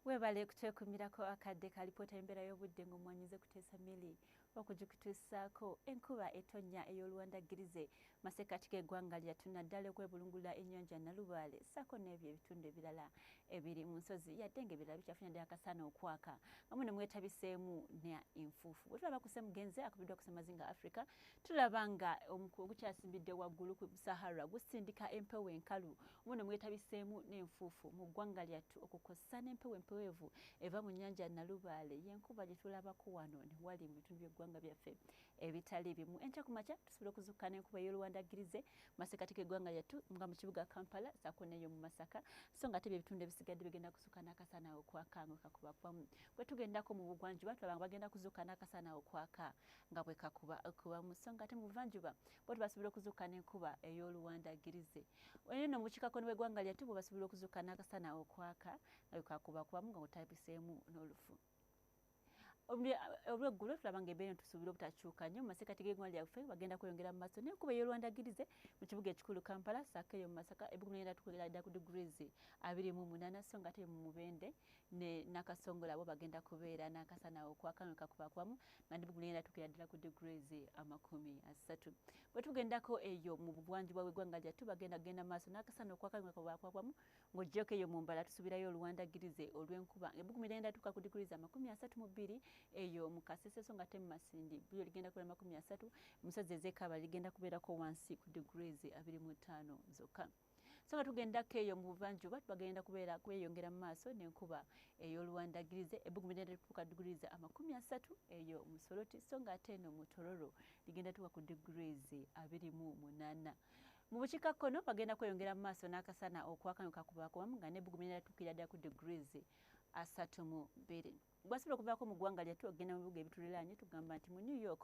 webale kutwekumirako akadde ka lipoota y'embeera y'obudde ng'omwanyize kuteesa mili okugikutuusaako enkuba etonnya ey'oluwandaggirize masekkati g'eggwanga lyattu naddala okwebulungulula ennyanja nalubaale ssaako n'ebyo ebitundu ebirala ebiri mu nsozi yadde nga ebirala bikyafunye ddala akasaana okwaka nga muno mwetabiseemu ne enfuufu bwe tulaba kuse mugenzi akubiddwa kusemazinga africa tulaba nga omukuwa ogukyasimbidde waggulu ku sahara gusindika empewo enkalu muno mwetabiseemu n'enfuufu mu ggwanga lyattu okukozesa n'empewo empeweevu eva mu nnyanja nalubaale yenkuba gye tulabako wano ne wali mu bitundu by'eggwanga byaffe ebitali bimu enkya ku makya tusobola okuzukka n'enkuba ey'oluwandagirize masekati g'eggwanga lyattu nga mu kibuga kampala saako neeyo mu masaka so nga ate byebitundu ebisigadde bigenda kuzuka n'akasana okwaka nga kakubakubamu bwe tugendako mu bugwanjuba tulaba nga bagenda kuzuka n'akasana okwaka nga bwe kakuba okuba mu so nga ate mu buvanjuba bo tebasobola okuzuuka n'enkuba ey'oluwandagirize eyo no mu kikako ne bwegwanga lyate bwe basobola okuzuuka n'akasana okwaka nga bwe kakuba kubamu nga kutabiseemu n'olufu olweggulo tulaba nga embeera tusuubira obutakyuka nnyo mu masekkati g'egwanga lyaffe bagenda kweyongera mu maaso naye kuba ey'olwandagirize mu kibuga ekikulu kampala saako eyo mu masaka ebugumyenda tukwegera dda ku degrees abiri mu munaana so nga ate mu mubende ne nakasongola bo bagenda kubeera n'akasana okwakano kakubakwamu nga ndi bugula era tukira ddala ku degrees amakumi asatu bwe tugendako eyo mu bugwanjuba bw'eggwanga lyattu bagenda kugenda maaso n'akasana okwakano kakubakwamu ng'ogyeko eyo mu mbala tusubirayo oluwandagirize olw'enkuba ebuguma era endatuuka ku degrees amakumi asatu mu bbiri eyo mu kasese so nga temu masindi bulyo ligenda kubeera makumi asatu musazi ez'ekaaba ligenda kubeerako wansi ku degrees abiri mu ttaano zokka so nga tugendako eyo mu buvanjuba bagenda kubeera kweyongera mu maaso n'enkuba ey'oluwandagirize ebbugumu ligenda lituuka degrees amakumi asatu eyo mu soloti so nga ate eno mu tororo ligenda tuuka ku degrees abiri mu munaana mu bukiika kkono bagenda kweyongera mu maaso n'akasana okwakanyuka kubakubamu nga n'ebbugumu ligenda lituukira ddala ku degrees asatu mu bbiri gwasobola okuvaako mu ggwanga lyattu okugenda mu bibuga ebituliraanye tugamba nti mu new york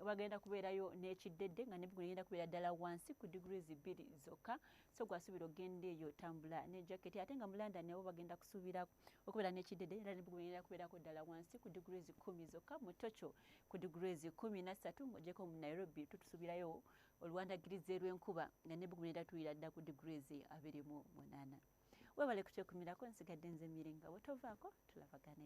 bagenda kubeerayo n'ekiddedde nga nebigu negenda kubeera ddala wansi ku degrees bbiri zokka so gwasuubira okugenda eyo otambula ne jacket ate nga mu london abo bagenda kusuubira okubeera n'ekiddedde era nebigu negenda kubeerako ddala wansi ku degrees kumi zokka mu tokyo ku degrees kumi nassatu ng'ogyeko mu nairobi tutusuubirayo oluwandagirizi lw'enkuba nga nebigu negenda tuwira ddala ku degrees abiri mu munaana webale kukyekumirako nsigadde nze miringa bwe tovaako tulabagane